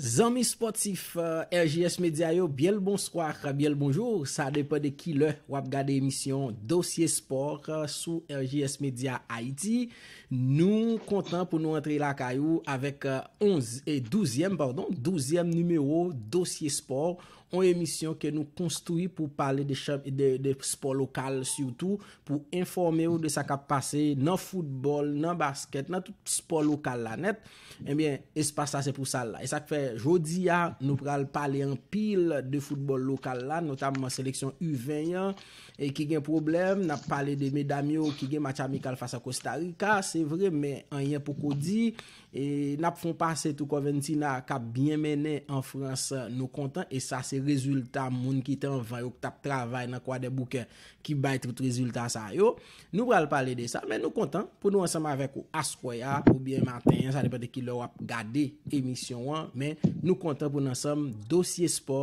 Zanmi spòtif RJS Media yo, byen l bonswa ak byen l bonjou, sa depan de ki lè w ap gade emisyon Dosye Spò sou RJS Media Ayiti. Nou kontan pou nou antre lakay ou avèk onz, douzyèm padon, douzyèm nimewo Dosye Spò, On emisyon ke nou konstwi pou pale de chan de spò lokal sitou pou enfòme ou de sa kap pase nan foutbòl, nan baskèt, nan tout spò lokal la nèt. Ebyen espas sa se pou sa l la. E sak fè jodi a nou pral pale anpil de foutbòl lokal la notamman seleksyon U20 an e ki gen pwoblèm. Nap pale de medam yo ki gen match amikal fas a Kostarika. Se vre men anyen poko di. E nap fon pase tou Corventina kap byen mennen an France nou kontan e sa se rezilta moun ki te anvan yo ki tap travay nan kwadèboukè ki bay tout rezilta sa yo. Nou pral pale de sa men nou kontan pou nou ansanm avèk ou aswè a oubyen maten an sa depan de kilè wap gade emisyon an men nou kontan pou nou ansanm dosye spò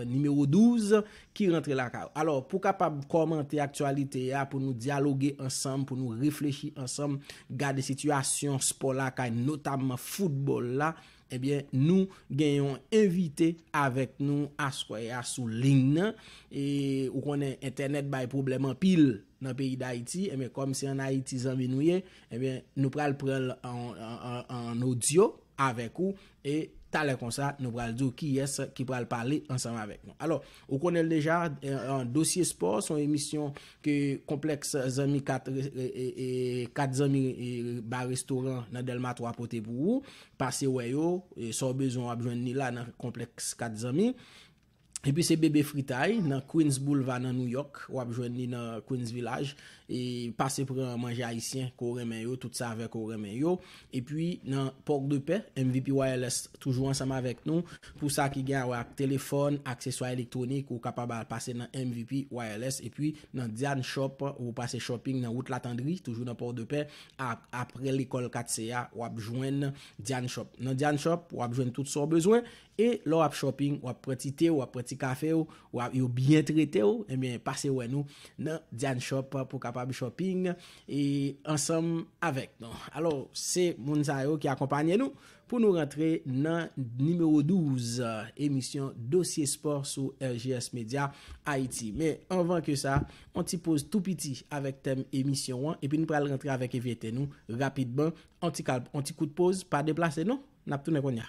nimewo 12 ki rantre lakay ou. Alò, pou kapab kòmante aktyalite a, pou nou dyaloge ansanm, pou nou reflechi ansanm, gade sitiyasyon spò lakay, notamman foutbòl la, ebyen, nou gen yon envite avèk nou aswè a sou ling nan. E, ou konnen, entènèt bay pwoblèm anpil nan peyi Dayiti. Ebyen, kòm se an Ayiti zanmi nou ye, ebyen, nou pral pran l an odyo avèk ou. E talè konsa, nou pral di w kiyès ki pral pale ansanm avèk nou. Alò, ou konnen l deja, Dosye Spò se yon emisyon ke Konplèks Zanmi 4, 4 zanmi ba restoran nan Dèlma 3 pote pou ou. Pase wè yo, sa w bezwen w ap jwenn li la nan Konplèks 4 zanmi. Epi se Bebe Fritay nan Queens Boulevard nan New York, wap jwenn li nan Queens Village. E pase pran manje ayisyen ke w renmen yo, tout savè ke w renmen yo. Epi nan Port de Paix, MVP Wireless toujou ansanm avèk nou. Pou sa ki gen a wè ak telefòn, akseswa elektwonik, ou kapab al pase nan MVP Wireless. Epi nan Diane Shop, ou pase shopping nan wout Latendri, toujou nan Port de Paix, aprè lekòl 4 se a, wap jwenn Diane Shop. Nan Diane Shop, wap jwenn tout sa w bezwen. E lè w ap shopping, w ap pran ti te w, w ap pran ti kafe w, w ap yo byen trete w, ebyen pase wè nou nan Diane Shop pou kapab shopping e ansanm avèk nou. Alò, se moun sa yo ki akonpanye nou pou nou rantre nan nimewo 12 emisyon Dosye Spò sou RJS Media Ayiti. Men, anvan ke sa, yon ti poz tou piti avèk tèm emisyon an, epi nou pral rantre avèk envyete nou rapidman. Yon ti kalm, yon ti kout poz, pa deplase non! Nap tounen kounya.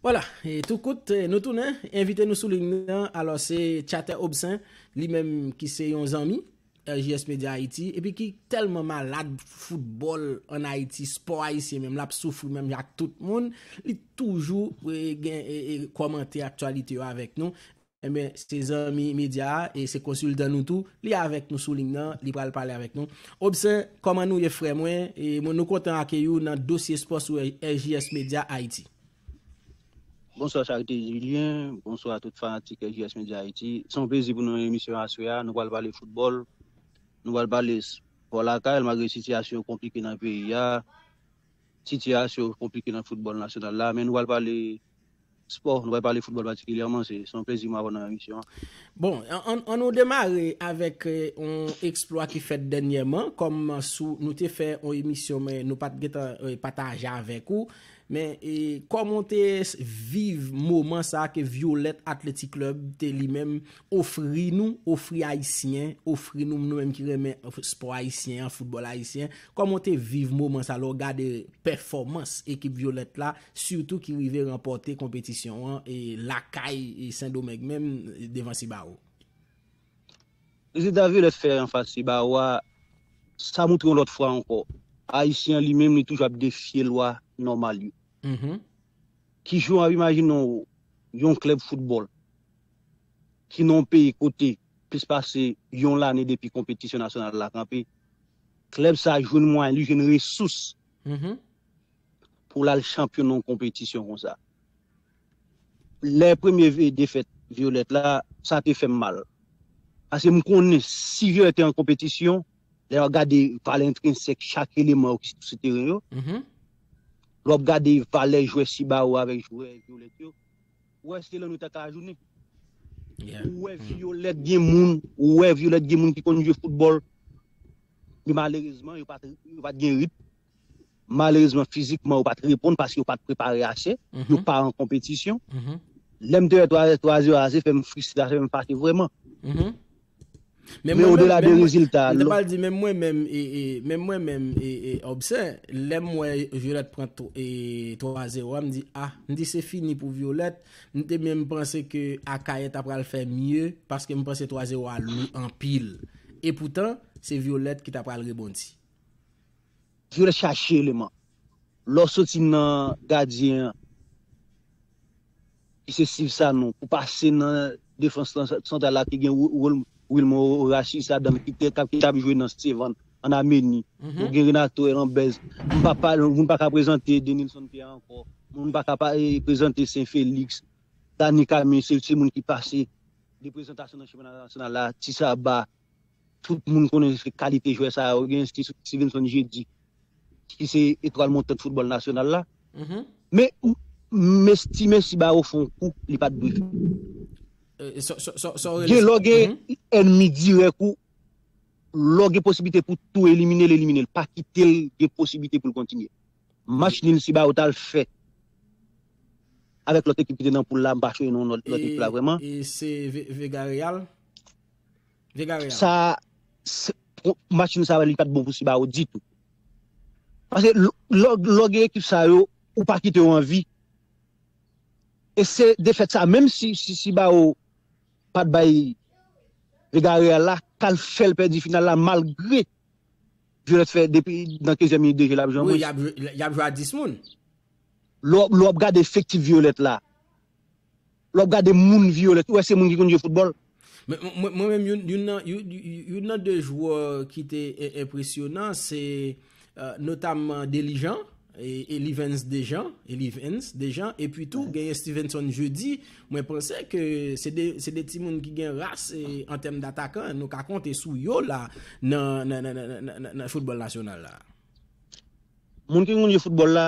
Wala, e tou kout, nou tounen, envite nou sou lign nan, alò se Tchatè Obsen, li menm ki se yon zanmi, RJS Media Haiti, epi ki tèlman malad foutbòl an Haiti, spò Ayisyen menm, lap soufri menm jan ak tout moun, li toujou gen e kòmante aktyalite yo avèk nou, Enben, se zanmi medya a e se konsiltan nou tou. Li avèk nou sou ling nan, li pral pale avèk nou. Obsen, kòman nou ye frè mwen? E mwen nou kontan akeyi ou nan Dosye Spò sou RJS Media Haïti. Bonswa Charite Julien, bonswa tout fanatik RJS Media Haïti. Se yon plezi pou nou nan emisyon aswè a. Nou pral pale foutbòl, nou pral pale spò lakay malgre sitiyasyon yo konplike nan peyi a. Sitiyasyon konplike nan foutbòl nasyonal la, men nou pral pale spò, nou pral pale foutbòl patikilyèman, se yon plezi pou m avè w nan emisyon an. Bon, an nou demare avèk yon eksplwa ki fèt dènyèman, kòm sou nou te fè yon emisyon men nou pa t gen tan pataje avèk ou, men kòman w te viv moman sa ke Violette Athletic Club te li menm Ofri nou, ofri Ayisyen, ofri nou nou menm ki renmen spò Ayisyen an, foutbòl Ayisyen, kòman w te viv moman sa lè w gade pèfòmans ekip Violette la, sitou ki rive ranpòte konpetisyon an lakay Sendomeng menm devan Sibaro? Rezilta Violette fè an fas Sibaro a, sa moutre yon lòt fwa ankò, Ayisyen an li menm li toujou ap defye lwa nòmal yo. Ki jan w ap imajine w yon klèb foutbòl ki nan yon peyi kote plis pase yon lane depi konpetisyon nasyonal la kanpe, klèb sa jwenn mwayen, li jwenn resous pou l al chanpyon nan yon konpetisyon konsa. Lè premye defèt Violette la, sa te fè m mal. Paske m konnen si Violette te an konpetisyon, lè w ap gade valè entrensèk chak eleman yo ki sou teren yo, lè w ap gade valè jwè Cibao avèk jwè Violette yo, Ou wè se lan nou ta ka ajounen. Ou wè Violette gen moun, ou wè Violette gen moun ki konn jwe football. Men malerezman yo pat yo pat gen rit. Malerezman fizikman yo pat reponn paske yo pat prepare ase. Yo pa an konpetisyon. Lè m te wè 3 0 a se fè m fristre, sa fè m fache vrèman. Men odela de rezilta a, lò. Menm mwen menm, menm mwen menm, Obse, lè m wè Violette pran 3 zero a, m di ah, m di se fini pou Violette, m te menm panse ke Akayè ta pral fè mye, paske m panse 3 zero a lou anpil. Epoutan, se Violette ki ta pral rebondi. Jwel chache eleman. Lè w soti nan gadyen an ki se Steve Sanon pou pase nan defans lan santral la ki gen Wilmer Horacius ladann ki te ki tap jwe nan Stevan an Ameni. Ou gen Renato Herambez. M pa pale moun pa ka prezante Denilson Pierre ankò. Moun pa ka pa prezante Saint Felix. Dany Camille se moun ki pase 2 prezantasyon nan chanpyona nasyonal la. Ti Saba. Tout moun konnen se kalite jwè sa yo gen, se Stevenson Jeudy ki se etwal montant foutbòl nasyonal la. Men, m estime si Bawo fè yon kou, li pa t dwe fèt. Gen lò gen ènmi dirèk ou, lè w gen posiblite pou tou elimine l, elimine l. Pa kite l gen posiblite pou l kontinye. Match nil si Bawo t al fè avèk lòt ekip ki te nan poul la, m pa chonje non lòt ekip la vrèman. E se Vega Real? Sa machin sa li pat bon pou Sibao ditou. Pase lò gen ekip sa yo ou pa kite yo anvi. E se defèt sa menm si Sibao pat bay Vega Real la kal fèl pèdi final la malgre Violet fè depi nan 15 e minit de jè lap jwe an mwens. Wi yap jwe a 10 moun. Lò ap gade efektif Violet la. Lè wap gade moun vyole ou wè se moun ki konn jwe foutbòl. Men mwen menm youn nan 2 jwè ki te enpresyonan se notamman Delijan, Elivens Dejan, Elivens Dejan epi tou genyen Stevenson Jeudi, mwen panse ke se 2 timoun ki gen ras an tèm datakan nou ka konte sou yo la nan foutbòl nasyonal la. Moun ki konn jwe foutbòl la.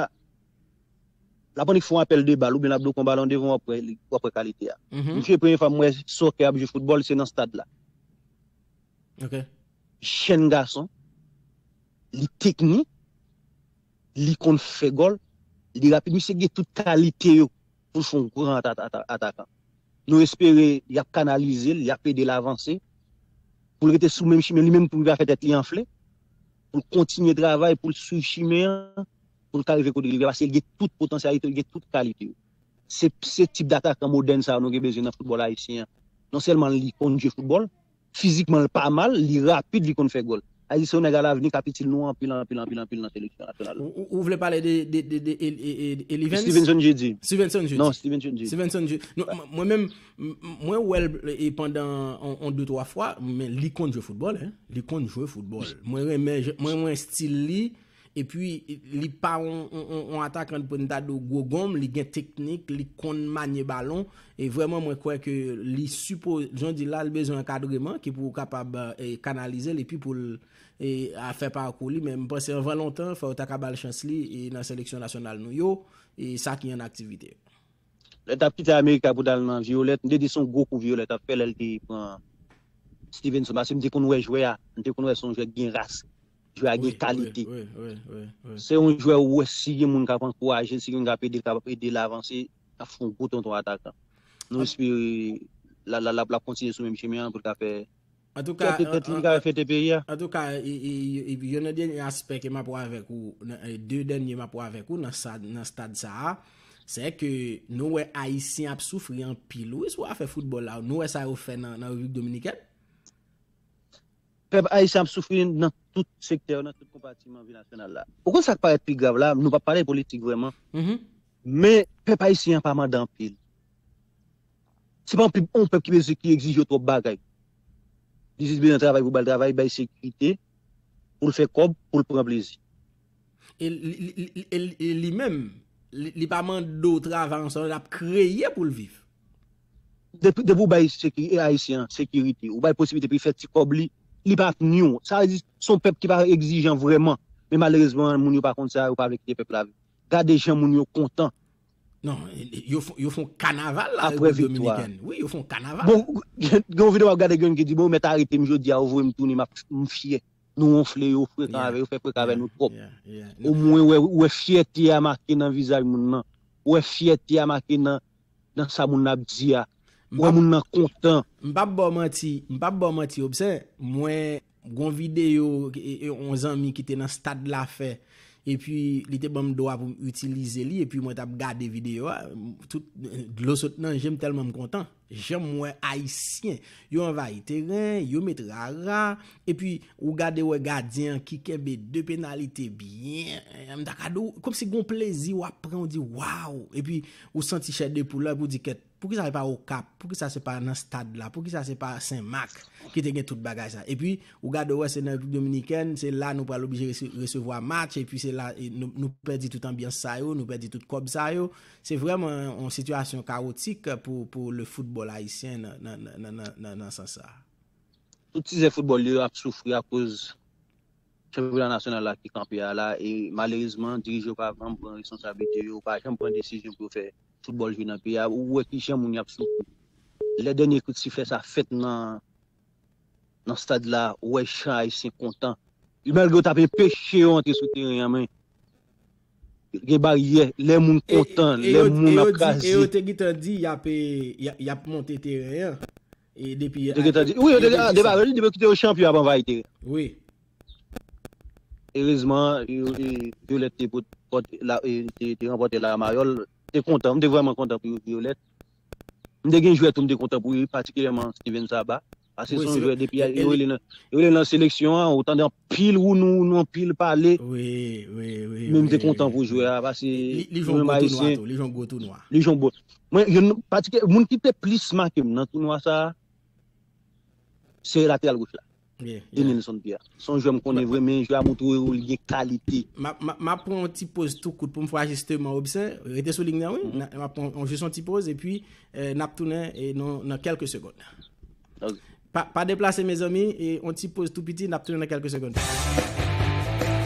Lap annik fon apèl de bal oubyen lap dwe pran balon devan wap wè li wap wè kalite a. Misye premye fwa m wè soccer ap jwe football se nan stad la. Jèn gason, li teknik, li konn fè gòl, li rapid misye gen tout kalite yo poul fon gran atakan. Nou espere yap kanalizel, yap edel avanse poul rete sou menm chimen li menm poul pa fè tèt li anfle, poul kontinye travay poul swiv chimen an. pou l ka rive kote li ye la paske li gen tout potansyalite yo, li gen tout kalite yo. Se se tip datakan modèn sa yo nou gen bezwen nan foutbòl ayisyen an. Non sèlman li konn jwe foutbòl, fizikman l pa mal, li rapid, li konn fè gòl. Ayiti se yon nèg alavni k ap itil nou anpil anpil anpil anpil nan seleksyon nasyonal la. Ou vle pale de Elivens? Stevenson Jeudi. Stevenson Jeudi. Non, Stevenson Jeudi. Stevenson Jeudi. Mwen menm, mwen wè l pandan yon de twa fwa, men li konn jwe foutbòl. Li konn jwe foutbòl. Mwen renmen, mwen renmen stil li. E pi li pa yon atakan de prentado gwo gonm, li gen teknik, li konn manye balon. E vrèman mwen kwè ke li sipo, jan w di la, li bezwen ankadreman ki pou kapab kanalize l e pi pou l fè pakou li. Men m panse anvan lontan, fò yo ta ka ba l chans li nan seleksyon nasyonal nou yo, sa ki an aktivite. Lè tap kite Amerika pou tal nan Violet, m te di son gwo kou Violet ap fè lèl te pran Stevenson paske m te konn wè jwè a, m te konn wè son jwè ki gen ras, Jwè a gen kalite. Se yon jwè ou wè si gen moun k ap ankouraje l, si gen moun k ap ede l, k ap ede l avanse, l ap fè yon gwo tonton atakan. Nou espere l ap kontinye sou menm chemen an pou l ka fè fyète tèt li, pou l ka fè fyète peyi a. Antouka, yon nan dènye aspè ke m ap wè avèk ou, de dènye m ap wè avèk ou nan stad sa a, se ke nou wè Ayisyen ap soufri anpil wi sou afè foutbòl la. Nou wè sa yo fè nan Repiblik Dominikèn. Pèp ayisyen ap soufri nan tout sektè yo, nan tout konpatiman vi nasyonal la. Ou konn sa k parèt pi grav la, nou p ap pale politik vrèman, men pèp ayisyen an pa mande anpil. Se pa yon pèp ki egzije yo twòp bagay. Li jis bezwen travay pou ba l travay, bay sekirite, pou l fè kòb, pou l pran plezi. E li menm, li pa mande w travay ansanm, l ap kreye pou l viv. Depi ou bay Ayisyen an sekirite, ou bay posiblite pou li fè ti kòb li, li pa ap nwi w. Sa vle di, se yon pèp ki pa egzijan vrèman. Men malerezman, moun yo pa konn sa, yo pa vle kite pèp la viv. Gade jan moun yo kontan. Non, yo fon kanaval la Repiblik Dominikèn. Wi, yo fon kanaval. Gen yon videyo m ap gade gen yon ki di, bon, yo mèt arete m jodi a, yo voye m tounen, m fyè. Nou wonfle yo, frekan avè yo, fè frekan avè nou twòp. O mwen ou wè fyète a make nan vizaj moun nan. Ou wè fyète a make nan nan sa moun nan ap di a. Ou wè moun nan kontan. M pap ba w manti, m pap ba w manti Obsen, mwen gon videyo yon zanmi ki te nan stad la fè epi li te ban m dwa pou m itilize li epi mwen t ap gade videyo a, tout dlo sot nan je m tèlman m kontan. Janm wè ayisyen yo anvayi teren, yo met rara, epi ou gade wè gadyen an ki kenbe 2 penalite byen, m ta ka di w, kòm si gon plezi w ap pran, ou di waw, epi ou santi chè de poul la, epi ou di kèt, poukisa se pa Okap, poukisa se pa nan stad la, poukisa se pa Senmak ki te gen tout bagay sa. Epi ou gade wè se nan Repiblik Dominikèn, se la nou pral oblije resevwa match, epi se la nou pèdi tout anbyans sa yo, nou pèdi tout kòb sa yo. Se vrèman yon sitiyasyon kawotik pou le foutbòl ayisyen nan sans sa a. Tout tizè foutbòl yo ap soufri akoz chanpyona nasyonal la ki kanpe a la e malerezman dirije yo pa janm pran responsablite yo, pa janm pran desizyon pou yo fè foutbòl jwe nan peyi a. Ou wè kijan moun yo ap soufri. Lè dènye kout siflè sa fèt nan. Nan stad la, ou wè jan Ayisyen kontan. Yo malgre yo tap enpeche yo antre sou teren an men gen baryè lè moun kontan, lè moun ap kraze. E yo te gentan di yap monte teren an. Yo te gentan di sa. Wi, depi yo kite yo chanpyon yap anvayi teren an. Wi. Erezman Violette te ranpòte la Mayòl. Te kontan, m te vrèman kontan pou Violette. M te gen jwè tou m te kontan pou yo wi patikilyèman Steven Saba pase son jwè depi yo rele nan yo rele nan seleksyon an ou tande anpil wounou anpil pale men m te kontan pou jwè a pase li jwe yon gwo tounwa tou li jwe yon gwo tounwa li jwe yon gwo mwen yon patikilyèman moun ki te plis make m nan tounwa sa se lateral goch la. Denilson Pierre son jwè m konnen vre men jwè a moutre ou li gen kalite. Map pran yon ti poz tou kout poum fè ajisteman Obsen, rete sou ligne nan wi, map pran jis yon ti poz epi nap tounen nan kelke segond. Ok. Pa deplase mezanmi, yon ti poz tou piti nap tounen nan kelke segond.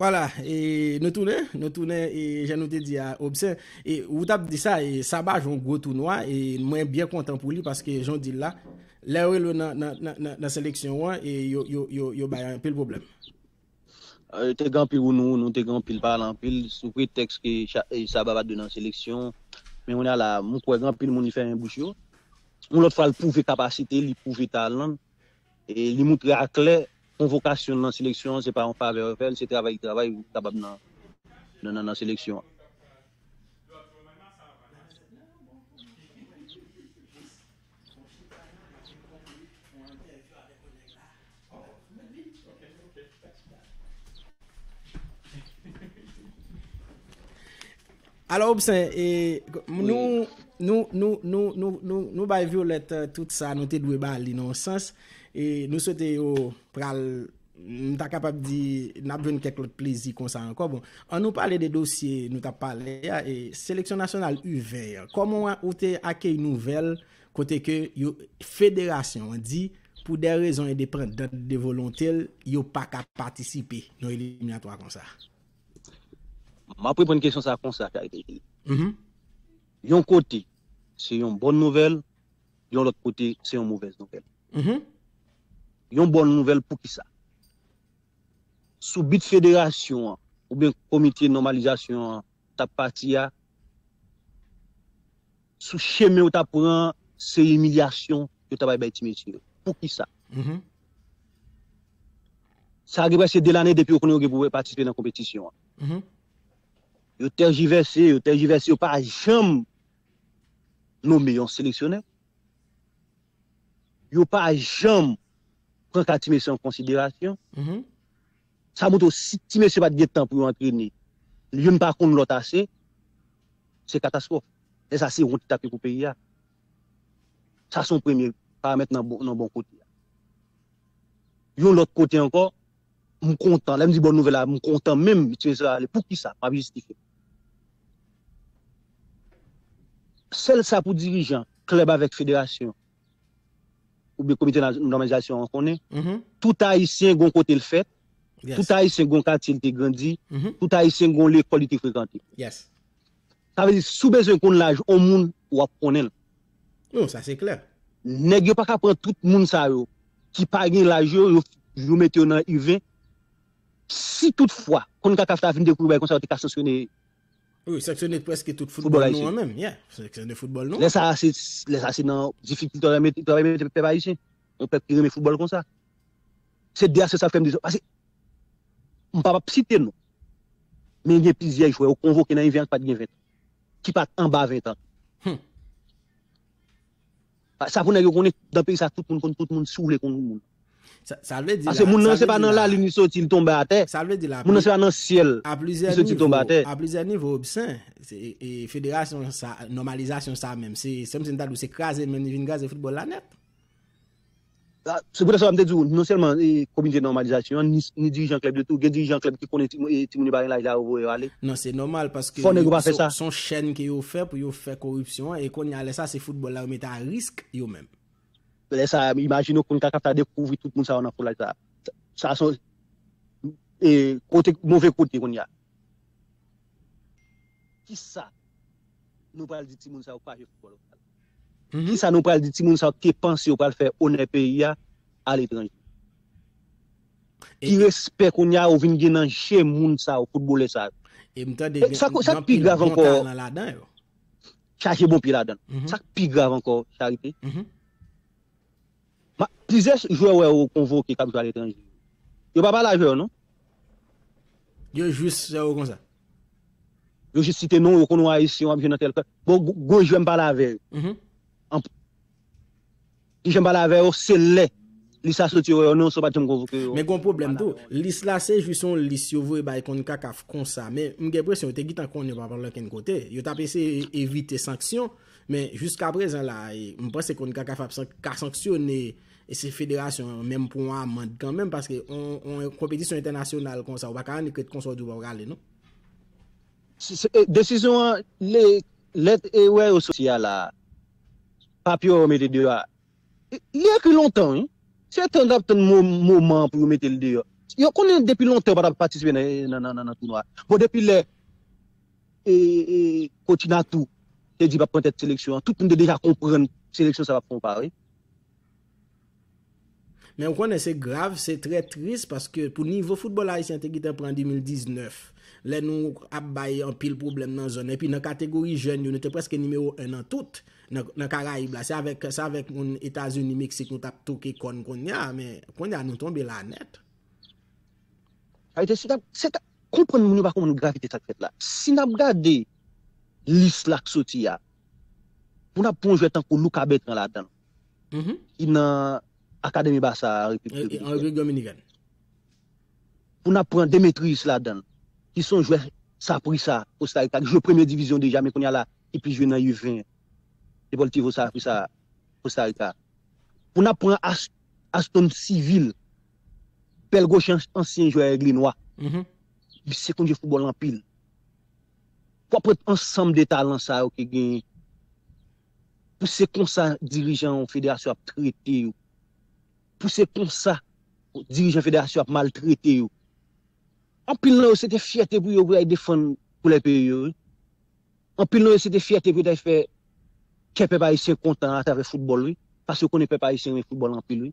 Wala e nou tounen, nou tounen e jan nou te di a Obsen e ou tap di sa e Saba jwe yon gwo tounwa e mwen byen kontan pou li paske jan w di l la lè yo rele w nan seleksyon an e yo bay anpil pwoblèm. Te gen anpil wounouwou nou, te gen anpil pale anpil sou pretèks ke Saba pa t dwe nan seleksyon men kounye a la m kwè gen anpil moun li fèmen bouch yo yon lòt fwa l pwouve kapasite l, li pwouve talan l Li moutre aklè konvokasyon l nan seleksyon an se pa yon favè yo fè l, se travay li travay pou li kapab nan seleksyon an. Alo Obsen, e, nou, nou, nou, nou, nou, nou, nou bay Violette tout sa nou te dwe bali nan yon sans, e nou swete yo pral, m ta kapab di, n ap jwenn kèk lòt plezi konsa ankò. Bon, an nou pale de dosye nou t ap pale a, e seleksyon nasyonal U20 an, kòman ou te akeyi nouvèl kote ke yo, federasyon an di, pou dè rezon endepandant de volonte l, yo pa ka patisipe nan eliminatwa konsa? Map reponn kesyon sa konsa K-Daily, yon kote se yon bòn nouvèl, yon lòt kote se yon movèz nouvèl. Yon bòn nouvèl poukisa? Sou bit federasyon an oubyen komite nòmalizasyon an tap pati a, Sou chemen yo tap pran an se imilyasyon yo ta bay bay ti mesye yo. Poukisa? Sa gen preske 2 lane depi yo konnen yo gen pou patisipe nan konpetisyon an. Yo tèjivèse, yo tèjivèse, yo pa janm nome yon seleksyonè. Yo pa janm pran ka ti mesye an konsiderasyon. Sa montre w si ti mesye pat gen tan pou yo antrene, youn pa konn lòt ase, se katastwòf. Lè sa se wont ki tap ye pou peyi a. Sa se yon premye paramèt nan bon kote a. Yon lòt kote ankò, m kontan, lè m di bòn nouvèl la, m kontan menm ti mesye yo ale. Poukisa? M ap jistifye m. Sèl sa pou dirijan klèb avèk federasyon oubyen komite nòmalizasyon an konnen, tout Ayisyen gon kote l fèt, tout Ayisyen gon katye l te grandi, tout Ayisyen gon lekòl li te frekante. Sa vle di, si w bezwen konn laj on moun, w ap konnen l. Non, sa se klè. Nèg yo pa ka pran tout moun sa yo ki pa gen laj yo, yo mete yo nan U20. Si tout fwa, konn kaka ta vin dekouvri bagay konsa yo te ka sanksyone Wi, sanksyone preske tout foutbòl nou an menm. Yeah, sanksyone foutbòl nou an. Lè sa a, lè sa a se nan difikilte yo mete, yo mete pèp ayisyen. Yon pèp ki renmen foutbòl konsa. Se de a se sa fè m di sa. Pase, m pa ap site non. Men gen plizyè jwè yo konvoke nan Envè an ki pa t gen ventan, ki pa t anba ventan. Sa pou nèg yo konnen, dan peyi sa tout moun konn tout moun si w vle konn yon moun. Sa vle di la. Pase moun nan se pa nan lalin li soti li tonbe atè. Sa vle di la. Moun nan se pa nan syèl li soti tonbe atè. A plizyè nivo Obsen, e federasyon sa, nòmalizasyon sa menm se, se kòmsi m ta di w se kraze men li vin kraze foutbòl la nèt. Se poutèt sa m te di w, non sèlman komite nòmalizasyon an, ni dirijan klèb yo tou, gen dirijan klèb ki konnen timoun yo pa gen laj la yo voye yo ale. Non se nòmal paske se yon chèn ke yo fè pou yo fè koripsyon an e kounye a lè sa se foutbòl la yo mete a risk yo menm. Lè sa a imajine w Concacaf ta dekouvri tout moun sa yo nan foulay sa a. Sa son kote move kote kounye a. Kisa nou pral di timoun sa yo pa jwe foutbòl. Kisa nou pral di timoun sa yo ki te panse yo pral fè onè peyi a aletranje? Ki respè kounye a yo vin gen nan je moun sa yo, foutbolè sa yo? E m tande gen anpil bon talan ladan yo. Chaje bon pye ladan l. Sa k pi grav ankò, Charite? Plizyè jwè wè ou konvoke kap jwe aletranje yo. Yo pa pale avè yo non. Yo jis wè ou konsa. Yo jis site non ou, yo konnen ou ayisyen wap jwe nan tèl klèb. Bon gwo jwè m pale avè yo. Ki jan m pale avè yo, se lè lis la soti yo wè yo non so pat janm konvoke yo. Men gon pwoblèm tou. Lis la se jis yon lis yo voye bay Concacaf konsa men m gen presyon yo te gitan konnen yo pa pale okenn kote. Yo tap eseye evite sanksyon. Men jiska prezan la a, m panse Concacaf ap ka sanksyone federasyon an menm pou yon amand kanmenm paske yon konpetisyon entènasyonal konsa ou pa ka annik ret konsa ou di w pa pral ale non. Desizyon an, lèt erè yo soti a la a, papye yo mete deyò a, li ekri lontan wi. Se tan yo tap tann moman an pou yo mete l deyò. Yo konnen depi lontan yo pa tap patisipe nan tounwa. Bon depi lè Kotina tou te di pap pran tèt seleksyon an. Tout moun te deja konprann seleksyon sa pap fè yon pa wi. Men ou konnen se grav, se trè tris paske pou nivo foutbòl ayisyen te gentan pran an 2019, lè nou ap bay anpil pwoblèm nan zòn epi nan kategori jèn yo nou te prèske nimewo 1 nan tout nan karayib la. Se avèk se avèk moun Etazini, Meksik nou tap toke kòn konnya men konnya nou tonbe la nèt. Ayiti se tap se tap Konprann moun yo pa konprann gravite sak fèt la. Si nap gade lis la k soti a, pou nap pran yon jwè tankou Luca Bertrand ladanl ki nan akademi Barça an Repiblik Dominikèn. Pou nap pran Demetrius ladanl ki son jwè Saprissa Costa Rica ki jwe premye divizyon deja men kounya la ki plis jwe nan U 20 Deportivo Saprissa Costa Rica. Pou nap pran Aston Civil. Bèl goche ansyen jwè Aigle Noir. Misye konn jwe foutbòl anpil. Wap pran ansanm de talan sa yo ki genyen. Pou se konsa dirijan yon federasyon ap trete yo. Pou se konsa dirijan federasyon ap maltrete yo. Anpil nan yo se te fyète pou yo pou yo al defann koulè peyi yo wi. Anpil nan yo se te fyète pou yo ta fè kè pèp ayisyen kontan atravè foutbòl wi. Paske yo konnen pèp ayisyen renmen foutbòl anpil wi.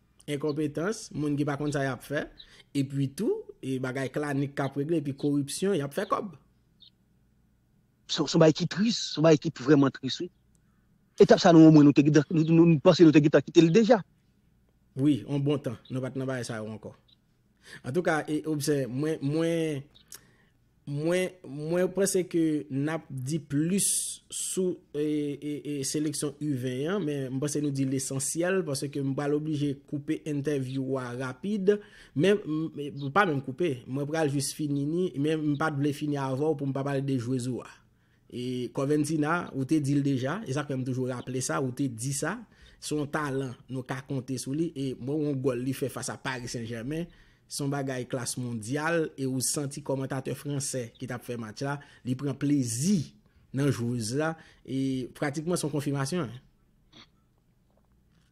enkonpetans, moun ki pa konn sa y ap fè, epi tou, e bagay klanik k ap regle, epi koripsyon, y ap fè kòb. Se yon bagay ki tris, se yon bagay ki vrèman tris wi. Etap sa nou omwen nou te gentan, nou panse nou te gentan kite l deja. Wi, yon bon tan, nou pa t nan bagay sa yo ankò. Antouka e obse mwen mwen mwen mwen panse ke nap di plis sou e seleksyon u 20 an men m panse nou di lesansyèl panse ke m pral oblije koupe entèvyou wa rapid men m pa menm koupe mwen pral jis fini ni men m pat vle fini avèw pou m pa pale de jwez ou a. E Corventina, ou te di l deja, e sa k fè m toujou raple sa, ou te di sa, se yon talan nou ka konte sou li, e mwen wè yon gòl li fè fas a Paris Saint Germain, se yon bagay klas mondyal, e ou santi kòmantatè fransè ki t ap fè match la, li pran plezi nan jwez la, e pratikman se yon konfimasyon.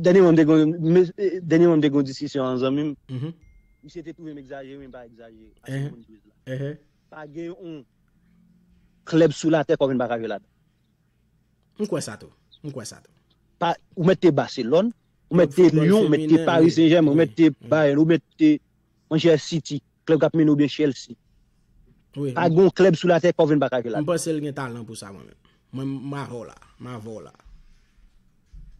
Dènyèman m te gen dènyèman m te gen yon diskisyon an zanmi m. Misye te twouve m egzajere men m pa egzajere ase m konn dwez la. Pa gen yon klèb sou latè Kòkèn pa ka jwe ladan. M kwè sa tou. M kwè sa tou. Pa ou mèt te Baselòn, ou mèt te Lyon, ou mèt te Pari Sen Jèmen, ou mèt te Bayèn, ou mèt te. Manchè City, klèb kap mennen oubyen Chelsea. Pa gon klèb sou latè Kevin paka jwe la. M panse l gen talan pou sa mwen menm. Mwen m avè w la. M avè w la.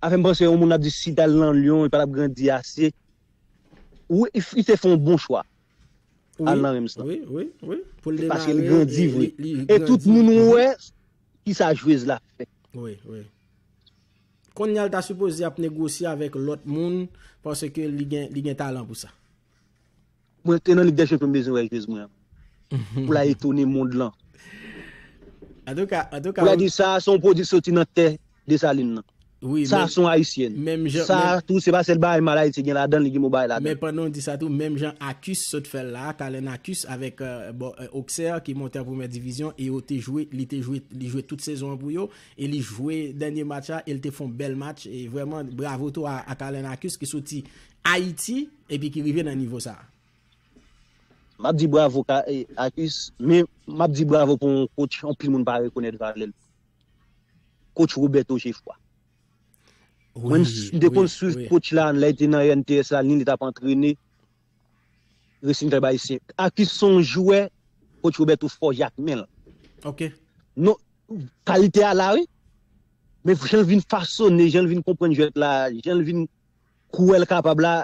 A fè m panse yon moun ap di si t al nan Lyon li pa tap grandi ase. Wi li te fè yon bon chwa al nan Reims lan. Wi, wi, wi. Pou l demare. Paske li grandi vre. E tout moun wè kisa jwez la fè. Wi, wi. Konnya l ta sipoze ap negosye avèk lòt moun paske li gen talan pou sa. Mwen antre nan lig dè chanpyon m bezwen wè jwez mwen an pou la etone mond lan. Pou la di sa a se yon pwodwi ki soti nan tè Desalin nan. Sa a se yon ayisyèn. Sa a tou se pa sèl bagay mal Ayiti gen ladan l, li gen bon bagay ladan l. Men pandan w di sa tou, menm jan Akus sot fè l la a, Talen Akus avèk Oksè ki monte an premyè divizyon e yo te jwe, li te jwe, li jwe tout sezon an pou yo e li jwe dènye match la e l te fon bèl match e vrèman bravo tou a Atalain Arcus ki soti Ayiti epi ki rive nan nivo sa. Map di bravo ka Arcus men map di bravo pou yon coach anpil moun pa rekonèt valè l coach Roberto Geffroy mwen m te konn swiv coach la lè l te nan rnts la ni li tap antrene Resin trèb ayisyen. Arcus se yon jwè coach Roberto fòje ak men l. Ok. Non, kalite a la wi. Men jan l vin fasone, jan l vin konprann jwèt la, jan l vin kwè l kapab la,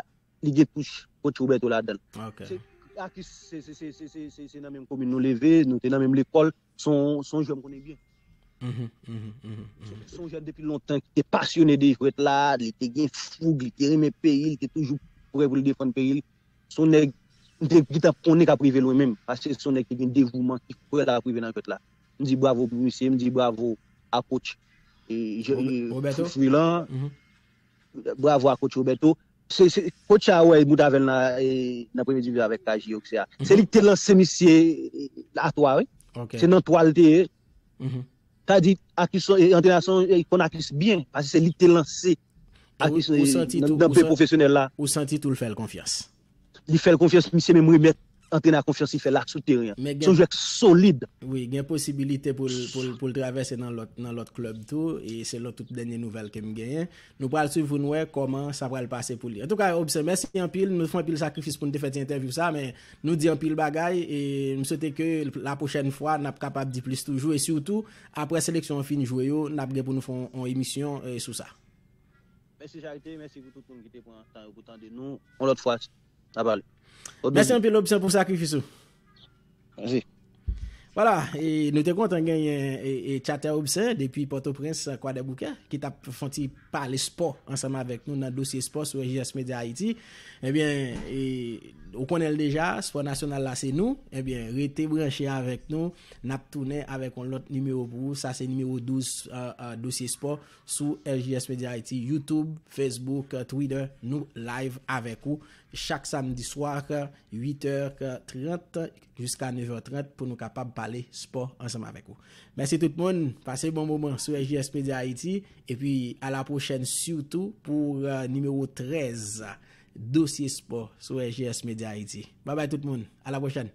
li gen touch coach Roberto ladan l. Ok. Arcus se nan menm komin nou leve, nou te nan menm lekòl. Son jwè m konnen byen. Son jwè depi lontan ki te pasyone de jwèt la, li te gen foug, li te renmen peyi l, li te toujou prè pou l defann peyi l. Son nèg m te gintan konnen k ap rive lwen menm, paske son nèg ki gen devouman ki fè l ap rive nan jwèt la. M di bravo pou misye, m di bravo a kotch Fofri lan. Bravo a coach Roberto. Coach a wè bout avèl nan premye divizyon avèk KJ Auxerre a. Se li ki te lanse misye a 3 wi. Se nan 3 li te ye. Sa di Athis antrenè sa li konn Athis byen. Pase se li ki te lanse Athis nan byen pwofesyonèl la. Ou santi tou l fè l konfyans. li fèl konfyans misye menm remèt antrenè a konfyans li fèl la sou teren an. Son jwè k solid. Wi, gen posibilite pou l travèse nan lòt klèb tou, e selon tout dènye nouvèl ke m genyen. Nou pral swiv pou n wè kòman sa pral pase pou li. Antouka Obse, mèsi anpil. Nou fè anpil sakrifis pou n te fè ti entèvyou sa, men nou di anpil bagay e m swete ke la pwochèn fwa n ap kapab di plis toujou e sitou aprè seleksyon an fin jwe yo n ap gen pou nou fè yon emisyon sou sa. Mèsi charite, mèsi pou tout moun ki te pran tan yo pou tande nou, yon lòt fwa na pale. Ou beni. Mèsi anpil Opsyon pou sakrifis ou. Mèsi. Wala, e nou te kontan genyen e Chater Opsyon depi Pòtoprens Kwadèboukè ki tap fè yon ti pale spò ansanm avèk nou nan dosye spò sou SJS Media Haiti. Ebyen, e ou konnenl deja, spò nasyonal la se nou. Ebyen, rete branche avèk nou, nap tounen avèk yon lòt nimewo pou ou, sa se nimewo 12 dosye spò Sou RJS Media Haiti, YouTube, Facebook, Twitter, nou live avèk ou chak samdi swa 8 è 30 jiska 9 è 30 pou nou kapab pale spò ansanm avèk ou. Mèsi tout moun, pase bon moman sou RJS Media Haiti epi a la pwochèn sitou pou nimewo 13 dosye spò sou RJS Media Haiti. Babay tout moun, a la pwochèn!